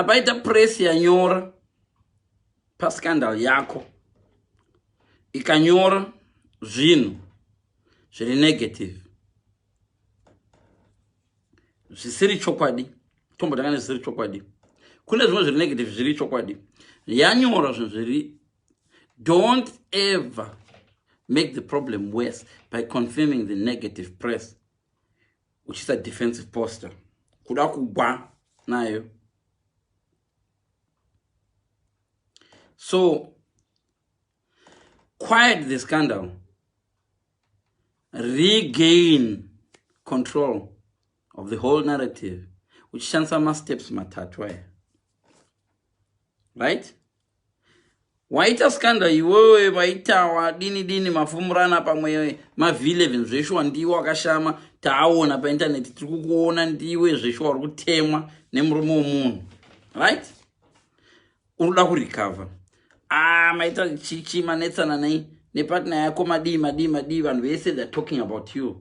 apaita press yanyora pascandal yako ikanyora zvinhu zviri negative zvisiri chokwadi tombotanga nezvisiri chokwadi kune zvimwe zviri negative zviri chokwadi yanyora zvinhu zviri don't ever make the problem worse by confirming the negative press uchiisa defensive poster kuda kugwa nayo so quiet the scandal regain control of the whole narrative uchishandisa masteps matatu aya right Waita skanda iwewe vaitawa dini dini mafumurana pamwe mavhileven zveshuwa ndiwe wakashama taawona paintaneti tiri kukuona ndiwe zveshuwa uri kutemwa nemurume womunhu right unoda kurecover ah maita chichi manetsana nei nepatna yako madii madii madii vanhu vese theyare talking about you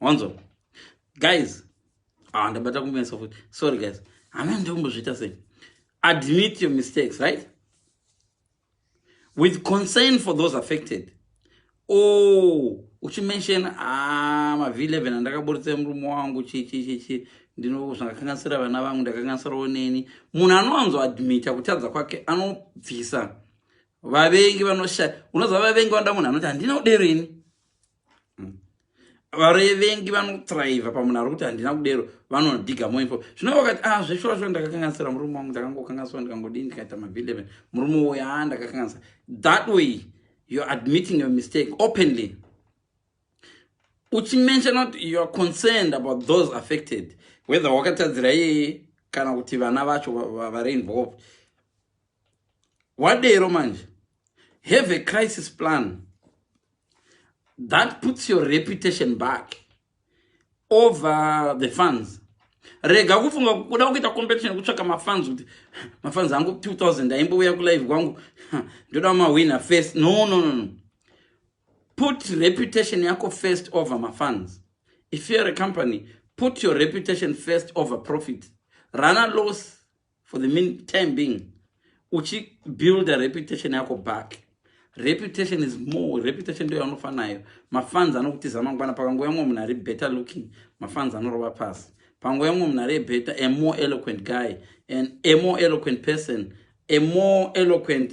wanzwa guys ah ndabata kumesa futi sorry guys hana ndikumbozviita sei admit your mistakes right with concern for those affected oh uchimention ah mavi 11 andakaburitsa murume wangu chii chii chii chii ndino zvangakanganisira vana vangu ndakanganisirawo neni munhu anowanzo admita kutadza kwake anobvisa vavengi vanosha unoziva vavengi vanoda munhu anoti handina udero ini varevengi vanotraiva pamunhu ari kuti handina kudero vanodiga moinfo zvino vakati a ah, zveshuwa shuwa ndakakanganisira murume wangu ndakangokanganisira ndikangodii ndikaita mabhileve murume woyo a ah, ndakakanganisa that way youare admitting your mistake openly uchimention not youare concerned about those affected whether wakatadzira iyeye kana kuti vana vacho vari involved wadero manje have a crisis plan that puts your reputation back over the funds rega kufunga kuda kuita competition kutsvaka mafans kuti mafans angu 2000 aimbouya kulive kwangu ndoda mahwina first no no no no put reputation yako first over mafans if youare a company put your reputation first over profit rana loss for the mean time being uchibuild a reputation yako back reputation is more reputation ndoyo anofa nayo mafans anokutiza mangwana pakanguva yamwe munhu ari better looking mafans anorova pasi panguva yamwe munhu ari better a more eloquent guy and a more eloquent person a more eloquent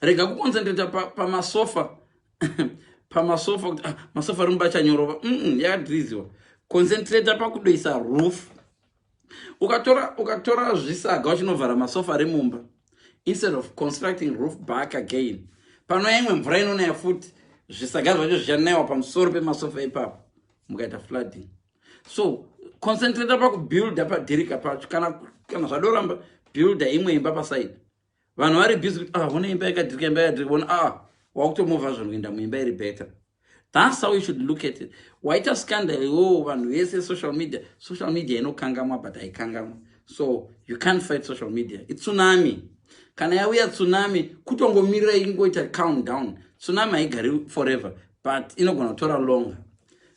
rega kuconcentrata pamasofa pa pamasofa kuti ah, masofa ari mubachanyorova mm, yakadhiriziwa concentrata pakudoisa roof ukatora ukatora zvisaga uchinovhara masofa ari mumba instead of constructing roof back again panoya imwe mvura inonaya futi zvisaga zvacho zvichanayiwa pamusoro pemasofa ipapo mukaita flooding so concentrata pakubuilda padhirika pacho kana kana zvadoramba builda imwe imba paside vanhu vari busy kuti ah vona imba yakadhirika imba yakadhirika vona ah wakutomovha zvanhu kuenda muimba iri better thats how you should look at it waita scandal iwowo vanhu vese social media social media inokangamwa but haikangamwa so you can't fight social media itsunami kana yauya tsunami kutongomirira ingoita count down tsunami haigari forever but inogona kutora longer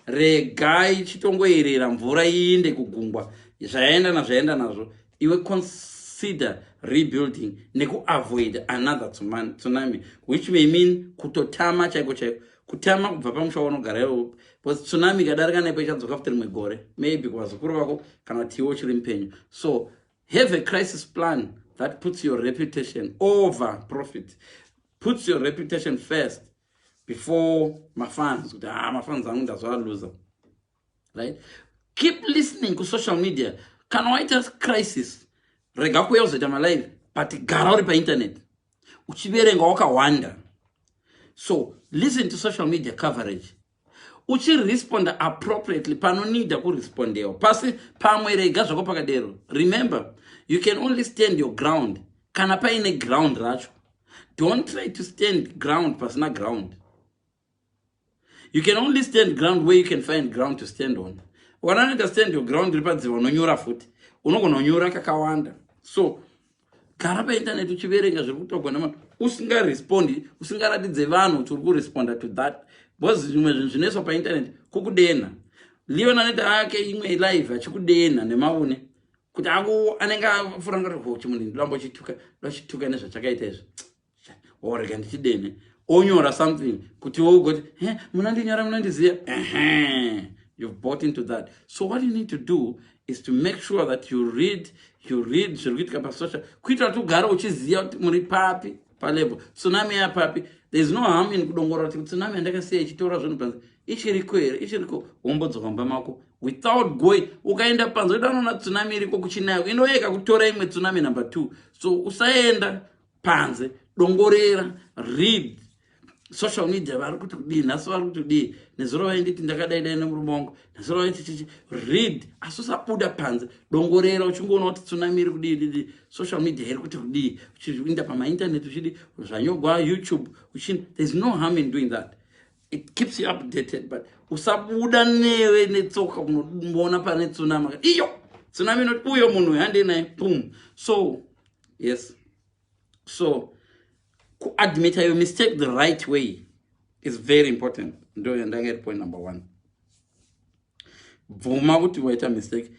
regai chitongoyerera mvura iinde kugungwa zvayaenda nazvaenda nazvo iwe consider rebuilding nekuavoid another tsunami which may mean kutotama chaiko chaiko kutama kubva pamusha waunogara iwo bcause tsunami ikadarika nepo ichadzoka futi rimwe gore maybe kuvazukuru vako kana kuti iwe uchiri mupenyu so have a crisis plan that puts your reputation over profit puts your reputation first before mafans kuti ha ah, mafans angu ndazvaaluza right keep listening ku social media kana waita crisis rega kuya uzoita malive but gara uri painternet uchiverenga wakawanda so listen to social media coverage uchiresponda appropriately panonida kurespondewa pasi pamwe rega zvako pakadero remember you can only stand your ground kana paine ground racho don't try to stand ground pasina ground you can only stand ground where you can find ground to stand on wana anoita stand your ground iri padziro unonyora futi unogona kunyora kakawanda so gara paintaneti uchiverenga zviri kutogwa nama usingarespondi usingaratidze vanhu kuti uri kuresponda to that because zvimwe zvinhu zvinoiswa paintaneti kukudenha leon anoita ake imwe live achikudenha nemaune kuti aku anenge afuranga kuti ho chimunhu ndindorambo chituka ndochituka nezvachakaita izvi or rega ndichidene onyora something kuti wougoti he munandinyora munandiziva ehe you've bought into that so what you need to do is to make sure that you read you read zviri kuitika pasocial kuitira kuti ugare uchiziva kuti muri papi palevel tsunami yapapi thereis no harm in kudongorora kuti tsunami yandakasiya ichitora zvinhu panze ichiriko here ichiriko wombodzoka mba mako without going ukaenda panze uda unoona tsunami iriko kuchinayo inoyeka kutora imwe tsunami number two so usaenda panze dongorera read social media vari kuti kudii nhasi vari kuti kudii nezuro vainditi ndakadai dai nemurume wangu nezuro vaiti chichi read asi usabuda panze dongorera uchingoona kuti tsunami iri kudii didi social media iri kuti kudii uchiinda pamainternet uchidi zvanyogwa youtube uchini thereis no harm in doing that it keeps you updated but usabuda newe netsoka unoona pane tsunami iyo tsunami inoti uyo munhu uyo handei naye pum so yes so kuadmita your mistake the right way is very important ndo yandanga iri point number one bvuma kuti waita mistake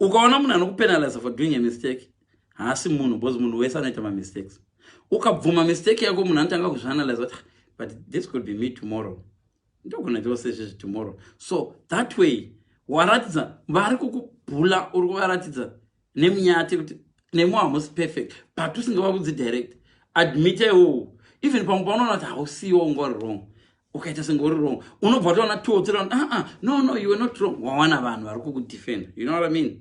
ukaona munhu anokupenaliza for doing a mistake haasi munhu because munhu wese anoita mamistakes ukabvuma mistake yako munhu anotanga kuzvianalyze kuti ah, but this could be me tomorrow ndogona itiwo sezvezvi tomorrow so that way waratidza vari kukubhula uri kuvaratidza nemi nyati kuti nemi hamusi perfect but usingava kudzi direct admit iwowo even pamwe paunoona kuti hausiwo unga uri wrong ukaita senge uri wrong unobva toona two three uh -uh, no no you were not wrong wawana vanhu vari kukudefenda you know what i mean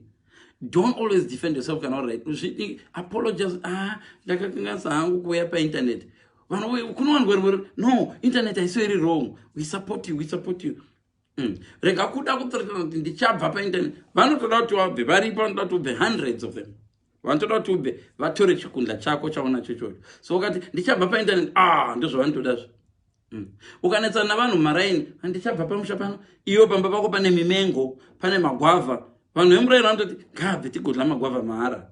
don't always defend yourself kana uri right zvidi apologize ah ndakakanganisa hangu kuuya painternet vanhu kunowanirwa rimwe no internet haisiwo iri wrong we support you we support you Mm. rega kuda kutoratidza kuti ndichabva painternet vanotoda kuti wabve varipo vanotoda kuti ubve hundreds of them vanotoda kuti ubve vatore chikundla chako chaunacho chocho so ukati ndichabva painternet a ah, ndozvavanotoda zvo mm. ukanetsana navanhu mumaraini handichabva pamusha pano iwo pamba pako pane mimengo pane magwavha vanhu vemuraini vanototi ngaabve tigodla magwavha mahara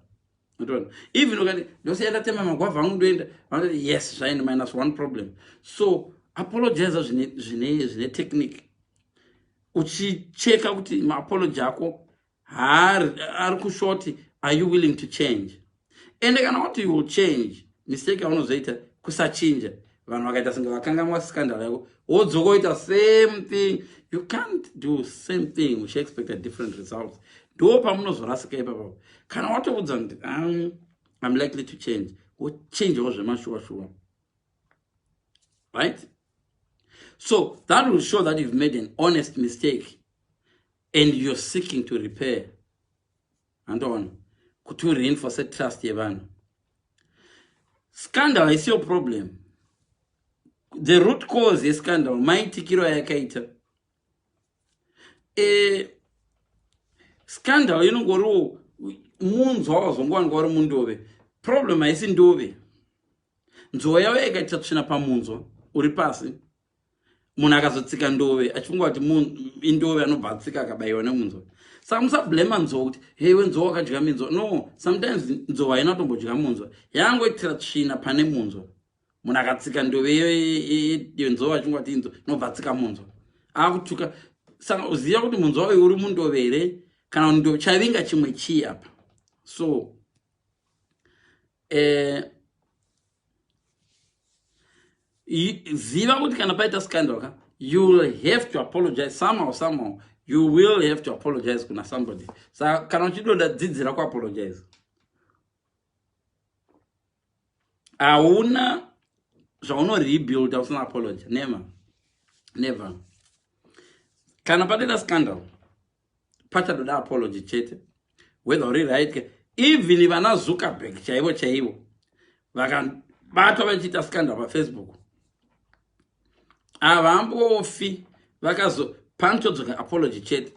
Unotoona? Even ukati ndosiya ndatema magwavha angu ndoenda, vanoti yes, zvaenda minus one problem. So apologize zvine zvine zvine technique. Uchicheka kuti maapology ako haari ari kushoti are you willing to change? Ende kana kuti you will change, mistake yaunozoita kusachinja vanhu vakaita senge vakangamwa scandal yako wodzoka oita same thing you can't do same thing uchi expect a different results ndo pamunozorasika ipapa kana watoudza kuti um, im likely to change wochangewo zvemashuwa shuwa right so that will show that you've made an honest mistake and you're seeking to repair andoona kuti ureinforce trust yevanhu scandal haisi yo problem the root cause yescandal maitikiro ayakaita e, scandal inongoriwo munzwa wazongowanika wari mundove problem haisi ndove nzou yavo yakaita tsvina pamunzwa uri pasi munhu akazotsika ndove achifunga kuti indove anobva atsika akabayiwa nemunzwa saka musablema nzwa kuti hei wenzwa wakadya minzwa no sometimes nzova haina kutombodya munzwa yangoitira tsvina pane munzwa munhu akatsika ndove yenzova achifunga kuti inzwa inobva atsika munzwa akutuka saka uziva kuti munzwa uyu uri mundove here kana ndo chavinga chimwe chii apa so eh, ziva kuti kana paita scandal ka you will have to apologize somehow somehow you will have to apologize kuna somebody sa kana uchidonda dzidzira kuapologize hauna zvauno rebuild usina apology never never kana patoita scandal pachatoda apology chete whether uri right ke even vana zuckerberg chaivo chaivo vakabatwa vachiita scandal pafacebook havambofi vakazo panotodzoka apology chete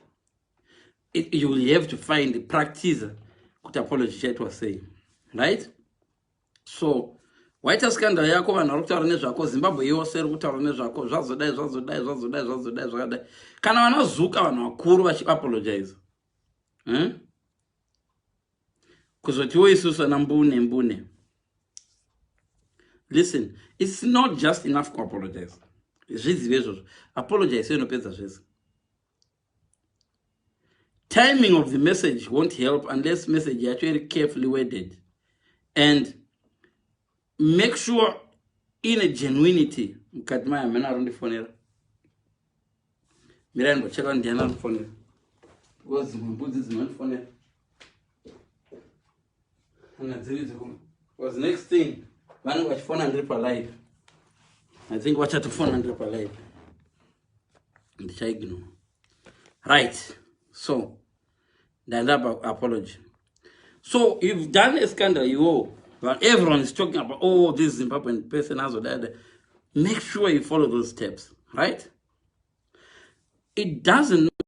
you will have to find practice kuti apology chaitwa sei right so waita scandal yako vanhu vari kutaura nezvako zimbabwe yose iri kutaura nezvako zvazodai zvazodai zvazodai zvazodai zvakadai kana vanazuka vanhu vakuru vachiapologiza hmm? kuzotiwo isusu ana mbune mbune listen its not just enough kuapologiza zvizive izvozvo apologize inopedza zvese timing of the message won't help unless message yacho iri carefully worded and make sure ine genuinity mukati mayo hamene ari ndifonera mirai ndocheka ndiana ndifonera because dzimwe mbudzi dzinondifonera kana dziri dzikuma because next thing vanenge vachifona ndiri palive i think vachatofona ndiri palive ndichaignore right so ndandapa apology so you've done a scandal iwo but everyone is talking about oh this zimbabwean person azodada make sure you follow those steps right it doesn't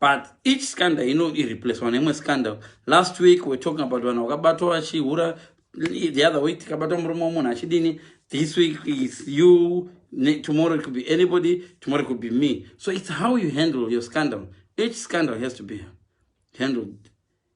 but each scandal ino ireplacewa neimwe scandal last week we're talking about vanhu vakabatwa vachihura the other week tikabatwa murume wemunhu achidini this week is you tomorrow it could be anybody tomorrow it could be me so it's how you handle your scandal each scandal has to be handled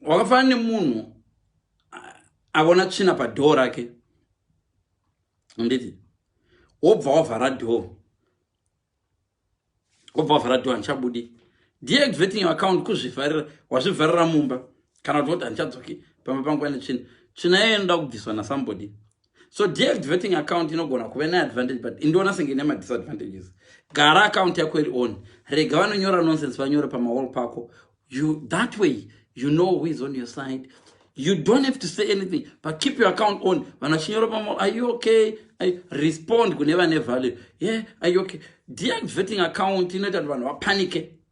wakafanana nemunhu avona tsvina padhoo rake anditi wobva wavhara dhoo wobva wavhara dhoo handichabudi deactivating your account kuzvivharira wazvivharira mumba kana kuti woti handichadzoki pamba pangu ane tsvina tsvina yayo inoda kubviswa nasambody so david vetting account inogona kuve neadvantage but indoona senge ine madisadvantages gara account yako iri on rega vanonyora nonsense vanyore pamawall pako you that way you know who is on your side you don't have to say anything but keep your account on vanhu vachinyora pamawall are you okay I respond kune vane value ye yeah, are you okay deactivating account inoita kuti vanhu vapanike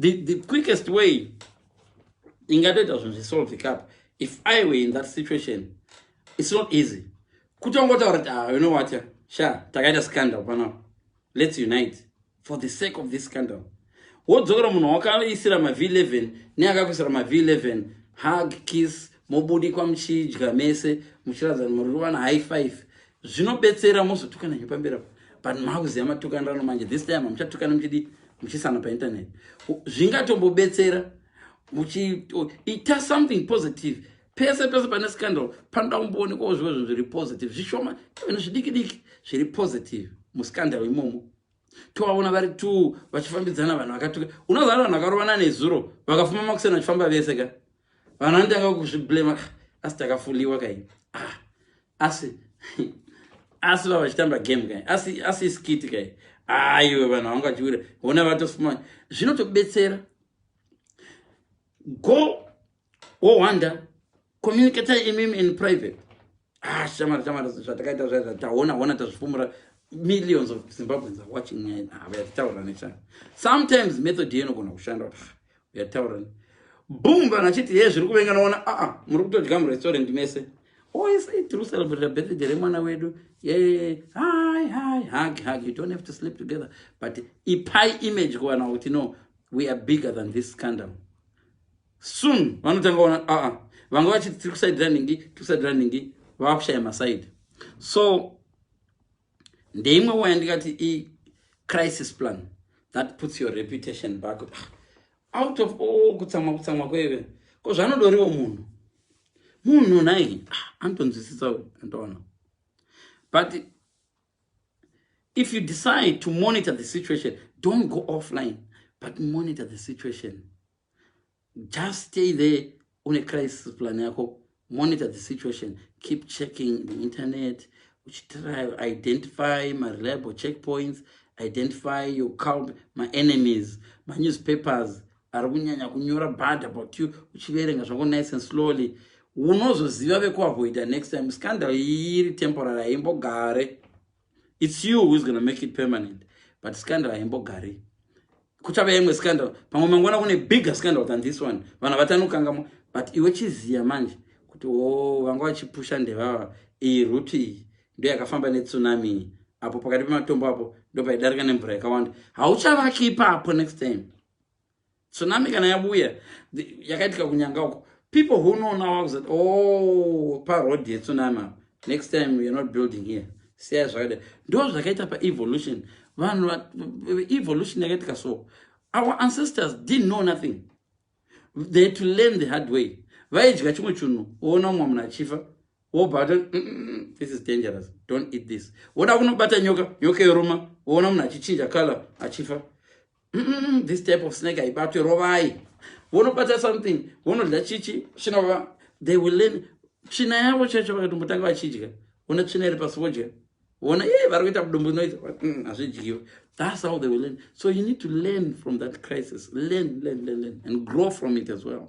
the, the quickest way ingatoita zvinhu zvisolve cup if i were in that situation it's not easy kutongotaura kuti ah, you know what sha takaita scandal panapa let's unite for the sake of this scandal wodzokera munhu wakaisira mav 11 neakakuisira mav 11 hug kiss mobudikwa muchidya mese muchiratidza muri kuvana high five zvinobetsera mozotukana nyu pamberi apo but makuziva matukanirano manje this time hamuchatukana muchidi muchisana painternet zvingatombobetsera muchiita something positive pese pese pane scandal panoda kumboonekwawo zvivo zvinhu zviri positive zvishoma even zvidiki diki zviri positive muscandal imomo tovaona vari two vachifambidzana vanhu vakatuka unoziva vanhu vakarovana nezuro vakafuma makuseni vachifamba vese ka vanhu vanotanga kuzviblema ah, asi takafuliwa kai ah asi asi vava vachitamba game kai asi asi iskiti kai aiwe vanhu havangachiwira hona vatosuma zvinotobetsera go wowonder communicate imim in private ah shamari shamari zvatakaita zva zvataona hona tazvifumura millions of zimbabweans are watching nyaya hava yatitaura nechana sometimes method iyo inogona kushanda yataura boom vanhu vachiti hee zviri kuvenga noona aa ah, ah, muri kutodya murestaurant mese oisa oh, tiri kucelebrata birthday remwana wedu ye hi hi hug hug you don't have to sleep together but ipai image kuvanhu kuti no we are bigger than this scandal soon vanotanga kuona aa ah, vanga vachiti tiri kusaidira ningi tiri kusaidira ningi vava kushaya masaidi so ndeimwe wo yandikati icrisis plan that puts your reputation back out of all kutsamwa kutsamwa kweve ko zvanodoriwo munhu munhu nai ah, anotonzwisisa andoona but if you decide to monitor the situation don't go offline but monitor the situation Just stay there une crisis plan yako monitor the situation keep checking the internet uchitry identify mareliable checkpoints identify your cult maenemies manewspapers ari kunyanya kunyora bad about you uchiverenga zvako nice and slowly unozoziva vekuavoida next time scandal iyi iri temporary haimbogare It's you who is gonna make it permanent but scandal haimbogari kuchave imwe scandal pamwe mangwana kune bigger scandal than this one vanhu vatanokangamo but iwe chiziya manje kuti o oh, vanga vachipusha ndevava iyi ruti iyi ndo yakafamba netsunami iyi apo pakati pematombo apo ndopaidarika nemvura yakawanda hauchavaki ipapo next time tsunami kana yabuya yakaitika kunyanga uko people who know now vakuzati o oh, paroad yetsunami apa next time weare not building here siyai zvakadai ndo zvakaita paevolution vanhu evolution yakaitika so our ancestors didn't know nothing they had to learn the hard way vaidya chimwe chinhu woona umwe munhu achifa wobata mm, mm, mm, this is dangerous don't eat this woda kunobata nyoka nyoka yoruma woona munhu achichinja color achifa Mm-mm, this type of snake haibatwe rovai vonobata something vonodya chichi chinova they will learn tsvina yavo chaicho vakatombotanga vachidya vona tsvina iri pasi vodya vona ye vari kuita budumbu inoita mm, hazvidyiwe that's how they will learn so you need to learn from that crisis learn learn learn learn and grow from it as well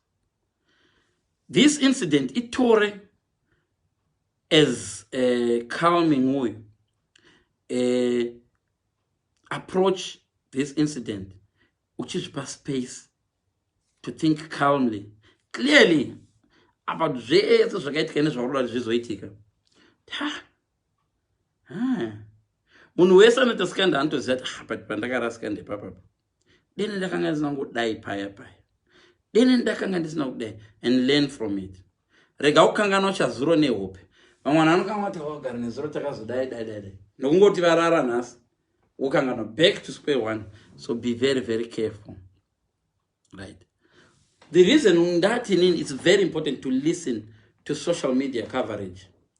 This incident itore as a calming way, a approach this incident uchizvipa space to think calmly clearly apa zvese zvakaitika nezvakuda kuti zvizoitika munhu wese anoita skanda anotoziva kuti ah, but pandakarasika ndepapapa deni ndakanga ndisina kudai paya paya deni ndakanga ndisina kudai and learn from it rega kukangana uchazuro nehope vamwe vanhu vanokanga vati vagara nezuro takazodai dai dai dai nokungoti varara nhasi wokangana back to square one so be very very careful right the reason ndati inini its very important to listen to social media coverage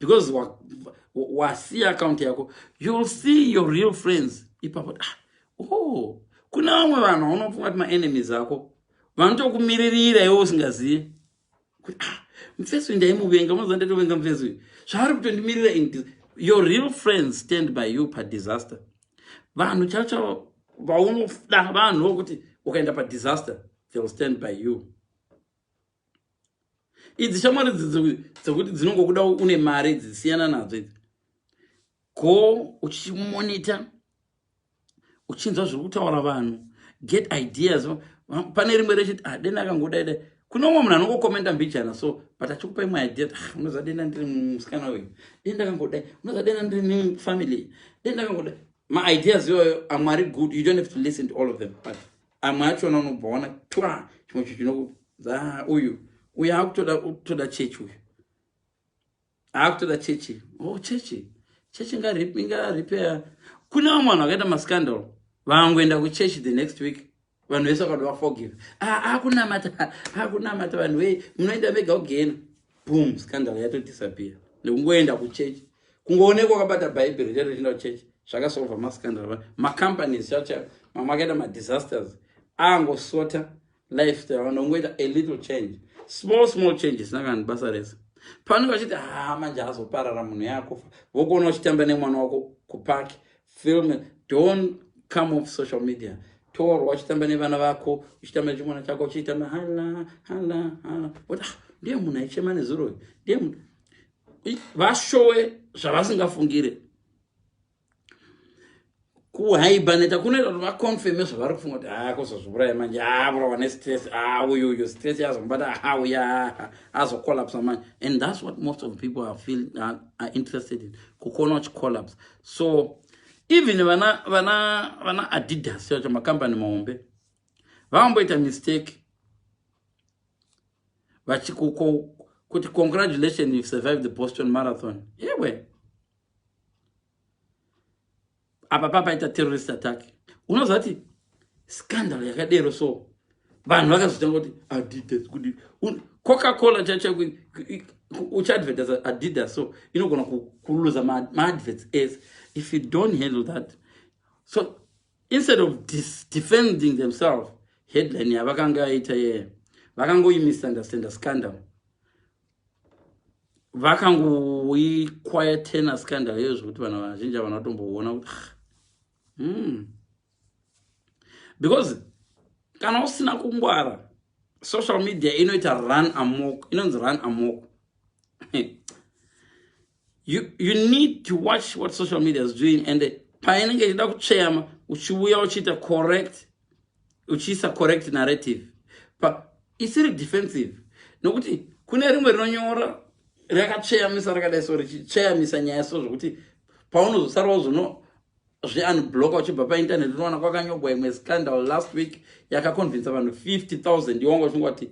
because wasiya wa, account yako youll see your real friends ipapo ah, oh, kune vamwe vanhu vaunofunga kuti maenemies ako vanotokumiririra iwe usingazive kuti ah, mufesi uyu ndaimuvenga unoziva ndatovenga mufesi uyu zvaari kutondimirira in your real friends stand by you padisaster vanhu chavo chavo vaunoda vanhu vokuti ukaenda padisaster theyll stand by you idzi shamwari dzekuti dzinongokuda une mari dzisiyana nadzo idzi go uchimonita uchinzwa zviri kutaura vanhu get ideas pane rimwe rechiti ah, dena akangodaida kune umwe munhu anongokomenda mbijana so but achikupa imwe idea ah, unoza dena ndiri musikana uyu denda akangodai unoza dena ndiri mufamily denda akangodai maideas iyoyo amwari good you don't have to listen to all of them but amwe achona unobva waona twa chimwe cho chinokuza uyu uyu akutoda kutoda chechi uyu akutoda chechi o oh, chechi chechi ingaripeya kune vamwe vanhu vakaita mascandal vangoenda kuchechi the next week vanhu vese vakada vaforgive akunamata akunamata vanhu wei munoenda mega kugena boom scandal yato disappear nekungoenda kuchurch kungoonekwa wakabata bhaibheri chete uchienda kuchurch zvakasolva mascandal macompanies chacha mamwe akaita madisasters angosota lifestyle vanhu vangoita a little change small small changes nakani basa rese pano vachiti haa manje azoparara munhu yakufa vokuona uchitamba nemwana wako kupaki film don't come off social media torwa uchitamba nevana vako uchitamba nechimwana chako uchiitamba hala hala hala but ah, ndiye munhu aichema nezuro uyu ndiye munhu vashowe zvavasingafungire kuhaibaneta kunoita kuti vaconfirme zvavari kufunga kuti haa ah, kuzozviuraya manje haa ah, vurawa nestress haa ah, uyu uyu stress yazomubata haa uya haa azocollapsa manje and thats what most of people are, feel, are, are interested in kukona uchicollapsa so even vana vana vana adidas chacho makambani mahombe vamboita mistake vachikuko kuti congratulation you've survived the boston marathon ewe apa papaita terrorist attack unoziva kuti scandal yakadero so vanhu vakazotanga kuti adidas kudi coca cola chacha uchiadvertisa adidas so inogona kuluza maadverts ese if you don't handle that so instead of defending themselves headline yavakanga aita yeye vakangoimisunderstanda scandal vakangoiquietena scandal iyoyo zvekuti vanhu vazhinji havana kutomboona kuti ah, mm. because kana usina kungwara social media inoita run amok inonzi run amok you, you need to watch what social media is doing and painenge ichida kutsveyama uchiuya uchiita correct uchiisa correct narrative pa isiri defensive nokuti kune rimwe rinonyora rakatsveyamisa rakadai so richitsveyamisa nyaya so zvokuti paunozosara wazono zveunbloka uchibva painternet unowana kwakanyogwa imwe scandal last week yakaconvinsa vanhu 50 000 iwanga uchingwati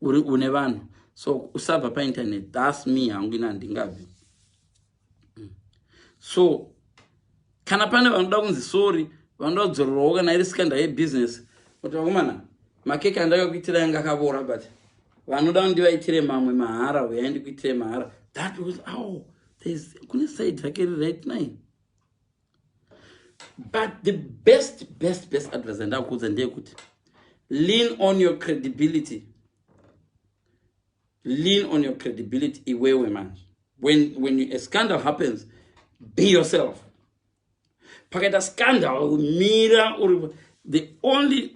uri une vanhu so usabva painternet thus me hangu ina handingabvi mm. so kana pane vanoda kunzi sori vanoda kudzororwawo kana iri sikanda yebusiness kuti vakomana makeke andakakuitira yanga akavora but vanoda kundivaitire mamwe mahara huyai ndikuitire mahara that was aw kune side rake riright nine but the best best best advice andakuudza ndeyekuti lean on your credibility lean on your credibility iwewe manje when, when a scandal happens be yourself pakaita scandal mira uri the only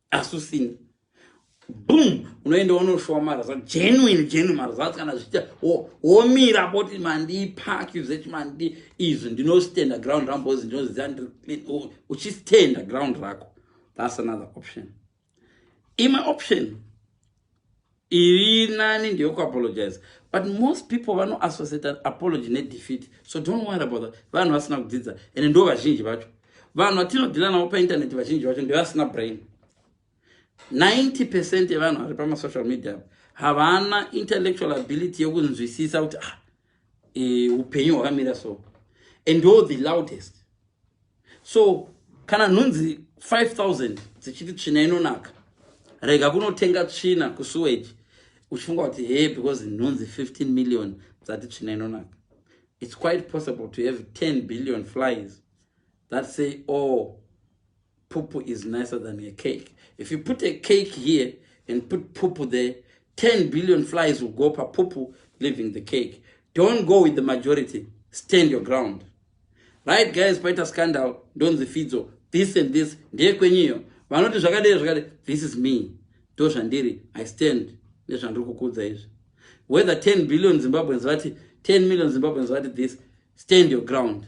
asi usina boom unoenda unoshowa marazva genuine genuine marazva ati kana zviita womira poti mandipak zvechi mandi izvi ndinostenda ground rangu bcoz ndinoziva ndiri clean uchistenda ground rako thats another option imwe option Iri nani ndiyo ku apologize. But most people vano associate an apology ne defeat. So don't worry about that. Vanhu vasina kudzidza and ndo vazhinji vacho. Vanhu vatino dealer navo pa internet vazhinji vacho ndo vasina brain. 90% yevanhu vari pa ma social media havana intellectual ability yekunzwisisa kuti ah e, upenyu hwakamira so and ndo the loudest so kana nhunzi 5000 dzichiti tsvina inonaka rega kunotenga tsvina kusuwage uchifunga kuti he because nhunzi 15 million dzati tsvina inonaka it's quite possible to have 10 billion flies that say all oh, Pupu is nicer than a cake. If you put a cake here and put pupu there, 10 billion flies will go pa pupu leaving the cake. Don't go with the majority. Stand your ground. Right guys, paita scandal, don't the fidzo. This and this, ndiye kwenyiyo. Vanoti zvakadei zvakadei, this is me. Do zhandiri, I stand. Nezvandiri kukudza izvi. Whether 10 billion Zimbabweans vati, 10 million Zimbabweans vati this, stand your ground.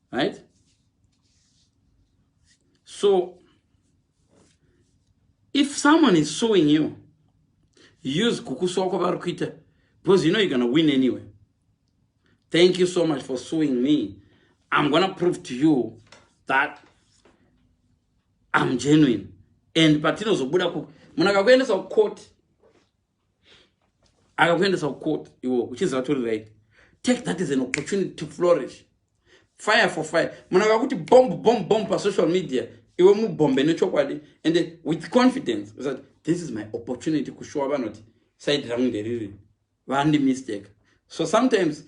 right so if someone is suing you use kukusuwa kwavari kuita because you know you're gonna win anyway thank you so much for suing me i'm gonna prove to you that i'm genuine and patinozobuda munakakuendesa kucourt akakuendesa kucourt iwo uchiziva tori right take that is an opportunity to flourish fire for fire munhu akakuti bomb bomb bomb pasocial media iwe mubhombe nechokwadi ende with confidence usati this is my opportunity kushuwa vanoti side rangu nderiri vandi mistake so sometimes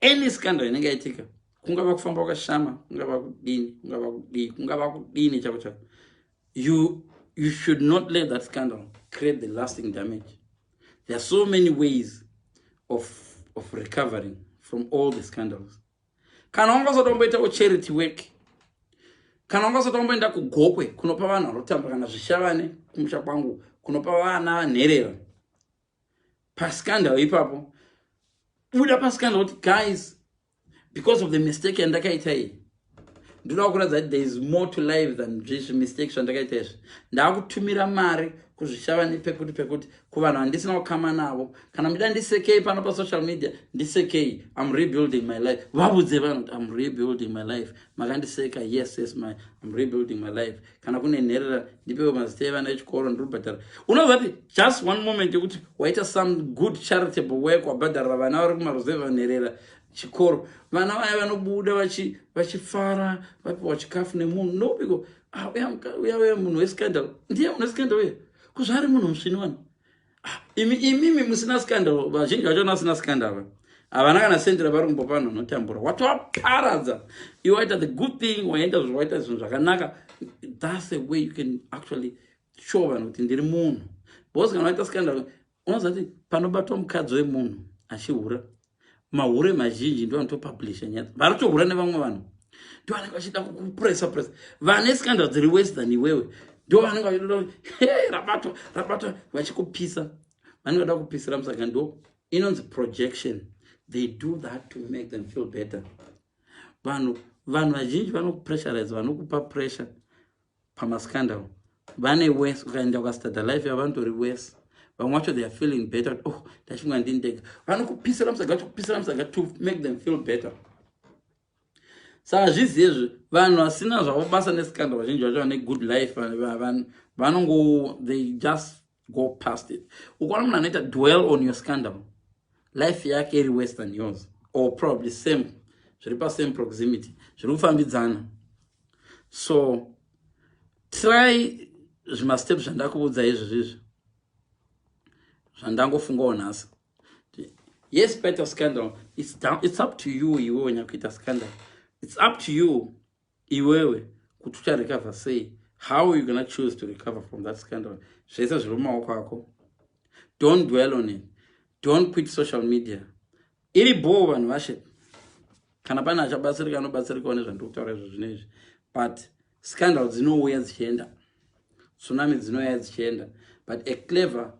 any scandal inenge yaitika kungava kufamba kwashama kungava kudini kungava kudii kungava kudini chako chako you, you should not let that scandal create the lasting damage there are so many ways of, of recovering from all the scandals kana wanga usati wamboitawo charity work kana wanga usati wamboenda kugokwe kunopa vanhu vanotamba kana zvishavane kumusha kwangu kunopa vana nherera pascandal ipapo buda pascandal kuti guys because of the mistake yandakaita iyi ndoda kuratidza kuti there is more to life than zvizvi mistake zvandakaita izvi ndaakutumira mari kuzvishava nepekuti pekuti kuvanhu vandisina kukama navo kana muchida ndisekei pano pasocial media ndisekei im rebuilding my life vavudze vanhu kuti im rebuilding my life makandiseka yes yes my im rebuilding my life kana kune nherera ndipewo mazita evana echikoro ndiribhadhara unovapi just one moment yekuti waita some good charitable work wabhadharira vana vari kumaruzeva nherera chikoro vana vaya vanobuda vachifara vapiwa chikafu nemunhu nobiko ah, uya uya munhu wescandal ndiye munhu wescandal uye kuzvaari munhu musvini wani imi imimi musina scandal vazhinji vacho vana vasina scandal va havana kana sendi ravari kumbopa vanhu vanotambura watovaparadza i waita the good thing waenda zvinhu waita zvinhu zvakanaka thats a way you can actually show vanhu kuti ndiri munhu because kana waita scandal unoziva kuti panobatwa mukadzi wemunhu achihura mahure mazhinji ndo anotopublisha nyaya vari kutohura nevamwe vanhu ndo vanenge vachida kupresa presa vane scandal dziri worse than iwewe ndo vanenge vachitoda he rabatwa rabatwa vachikupisa vanenge vada kupisira musaka ndo inonzi projection they do that to make them feel better vanhu vanhu vazhinji vanokupressurize vanokupa pressure pamascandal vane worse ukaenda ukastada life yavo vanotori worse vamwe wacho theyare feeling better kuti oh ndachimwa ndini ndega vanokupisira musaga kupisira musaga to make them feel better sa hazvizi ezvi vanhu vasina zvavo basa nescandal vazhinji vacho vane good life vanongo they just go past it ukaona munhu anoita dwell on your scandal life yake iri worse than yours or probably same zviri pasame proximity zviri kufambidzana so try zvimastep zvandakuudza izvi zvizvi zvandangofungawo nhasi yes paita scandal it's, down, it's up to you iwe wenyakuita scandal it's up to you Iwewe kuti ucha recover sei? How you gonna choose to recover from that scandal? Zvese zviri mumaoko ako. Don't dwell on it. Don't quit social media. Iri bhoo vanhu vashe. Kana pane achabatsirika anobatsirikawo nezvandiri kutaura izvo zvino izvi. But scandal dzinouya dzichienda. Tsunami dzinouya dzichienda. But a clever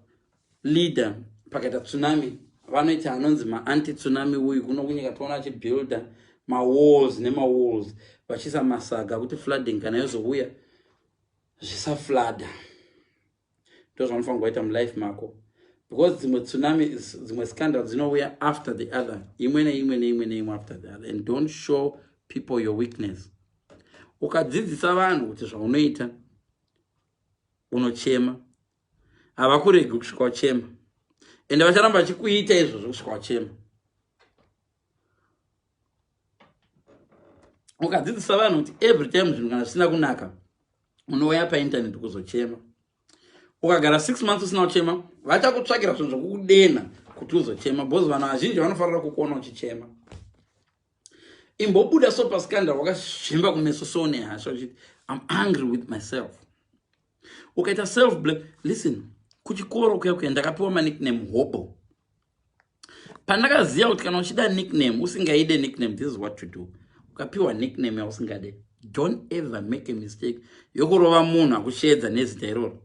Leader pakaita tsunami vanoita anonzi maanti tsunami uyu kuno kunyika toona achibuilda mawalls nemawalls vachiisa masaga kuti flooding kana yozouya zvisaflada ndozvanofanira kuita mulife mako because dzimwe tsunami dzimwe scandal dzinouya after the other imwe neimwe neimwe neimwe after the other and don't show people your weakness ukadzidzisa vanhu kuti zvaunoita unochema havakuregi kusvika uchema ende vacharamba vachikuita izvozvo kusvika uchema ukadzidzisa vanhu kuti every time zvinhu kana zvisina kunaka unouya paintaneti kuzochema ukagara six months usina kuchema vachakutsvakira zvinhu zvokukudenha kuti uzochema bcause vanhu vazhinji vanofanira kukuona uchichema imbobuda so pascandal wakazvimba kumeso so nehasha uchiti im angry with myself ukaita self blame listen kuchikoro kuya kuya ndakapiwa manickname hobo pandakaziva kuti kana uchida nickname usingaide nickname this is what to do ukapiwa nickname yausingade don't ever make a mistake yokurova munhu akusheedza nezita iroro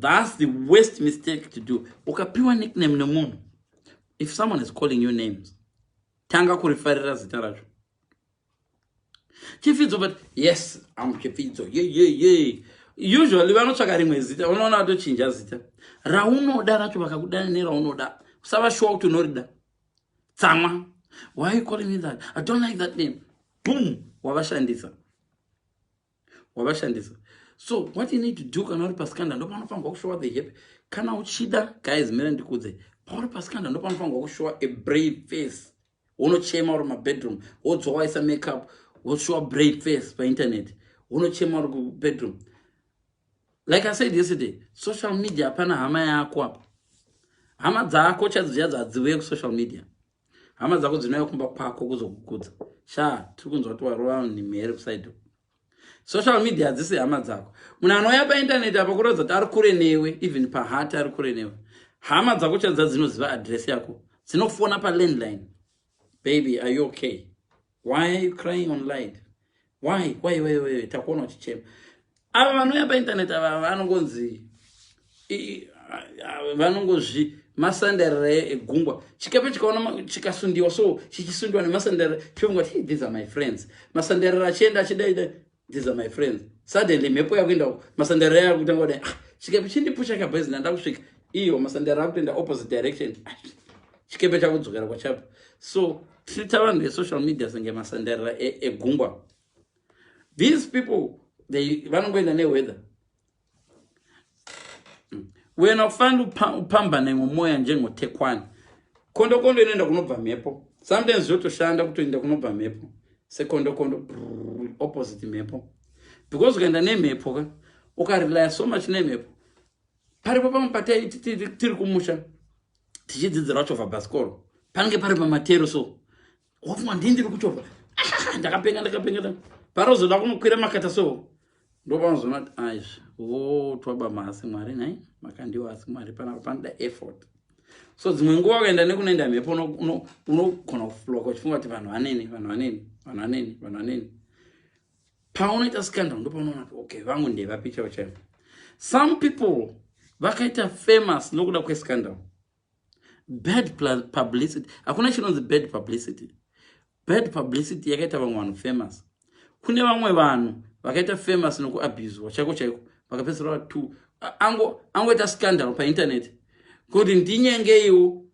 thats the worst mistake to do ukapiwa nickname nemunhu if someone is calling you names tanga kurifarira zita racho chifidzo but yes am chifidzo ye ye ye usually vanotsvaka rimwe zita unoona vatochinja zita raunoda racho vakakudana neraunoda usava shuwa kuti unorida tsamwa why you calling me that i don't like that name boom wavashandisa wavashandisa so what you need to do kana uri pasikanda ndopanofanirwa kushowa the happy kana uchida guys mira ndikudze pauri pasikanda ndopanofanirwa kushowa a brave face wonochema uri mabedroom wodzwa waisa makeup woshowa brave face painternet wonochema uri kubedroom like i said yesterday social media hapana hama yako apa hama dzako chadziyadza hadziuye kusocial media hama dzako dzinouya kumba kwako kuzokukudza sha tiri kunzwa kuti warova mhere kusaido social media hadzisi hama dzako munhu anouya paintaneti apa kuratidza kuti ari kure newe even pahati ari kure newe hama dzako chadza dzinoziva adress yako dzinofona palandline baby are you okay why are you crying on light why why why why takuona uchichema ava vanouya painternet ava vanongonzi vanongozvi masanderere egungwa chikepe chikaona chikasundiwa so chichisundiwa nemasanderere chofunga ti these are my friends masanderere achienda achidaida these are my friends suddenly mhepo yakuenda uko masanderere aya kutanga kudai ah, chikepe chindipusha kabhezi ndanda kusvika iyo masanderere akutoenda opposite direction ah, chikepe chakudzokera kwachapa so treata vanhu vesocial media senge masandarira egungwa e these people vanongoenda neweather hmm. wena kufanira kupambana imwe mwoya njengotekwani kondokondo inoenda kunobva mhepo sometimes zvotoshanda kutoenda kunobva mhepo sekondokondo opposite mhepo because ukaenda nemhepo ka ukarelaya so much nemhepo paripo pamwe patai tiri kumusha tichidzidzira kuchovha bhasikoro panenge pari pamatero so wafungwa ndii ndiri kuchovha ah, ndakapenga ndakapenga parozoda kunokwira makata so ndopanozoona kuti aizvi votwaba maasi mwari nhai makandiwa asi mwari panapa panoda effort so dzimwe nguva ukaenda nekunoenda mhepo unogona kufloka uchifunga kuti vanhu vaneni vanhu vaneni vanhu vaneni vanhu vaneni paunoita scandal ndopaunoona kuti okay vangu ndevapi chaivo chaivo some people vakaita famous nokuda kwescandal bad publicity hakuna chinonzi bad publicity bad publicity yakaita vamwe vanhu famous kune vamwe vanhu vakaita famous nokuabuswa chaiko chaiko vakapedzisira vatu angoita scandal painternet kuti ndinyengeiwo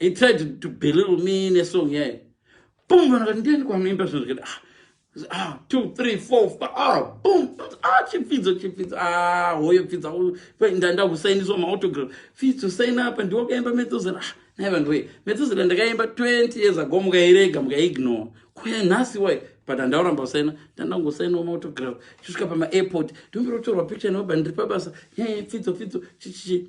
he tried to belittle me in a song yaye boom vanhu vati ndiani kwanoimba zvinhu zvikati ah ah two three four five ah boom ah chipfidzo chipfidzo ah hoyo pfidza ndanda kusainiswa maautogram pfidzo saina apa ndiwo kaimba metsozera ah nai vanhu wee metsozera ndakaimba 20 years ago mukairega mukaignore kuya nhasi wai but handauramba kusaina ndandangosainawo maautogram chisvika pamaairport ndimbirotorwa picture nobva ndiri pabasa nyaya yepfidzo pfidzo chichichi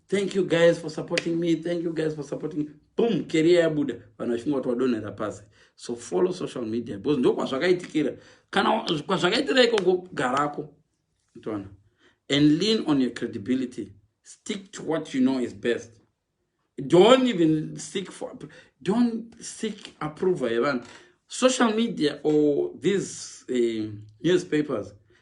thank you guys for supporting me thank you guys for supporting me boom keriya yabuda vanhu vachinge vati wadonhera pasi so follow social media because ndokwazvakaitikira kana kwazvakaitira ikoko garako toona and lean on your credibility stick to what you know is best don't even seek for don't seek approval yevanhu social media or these uh, newspapers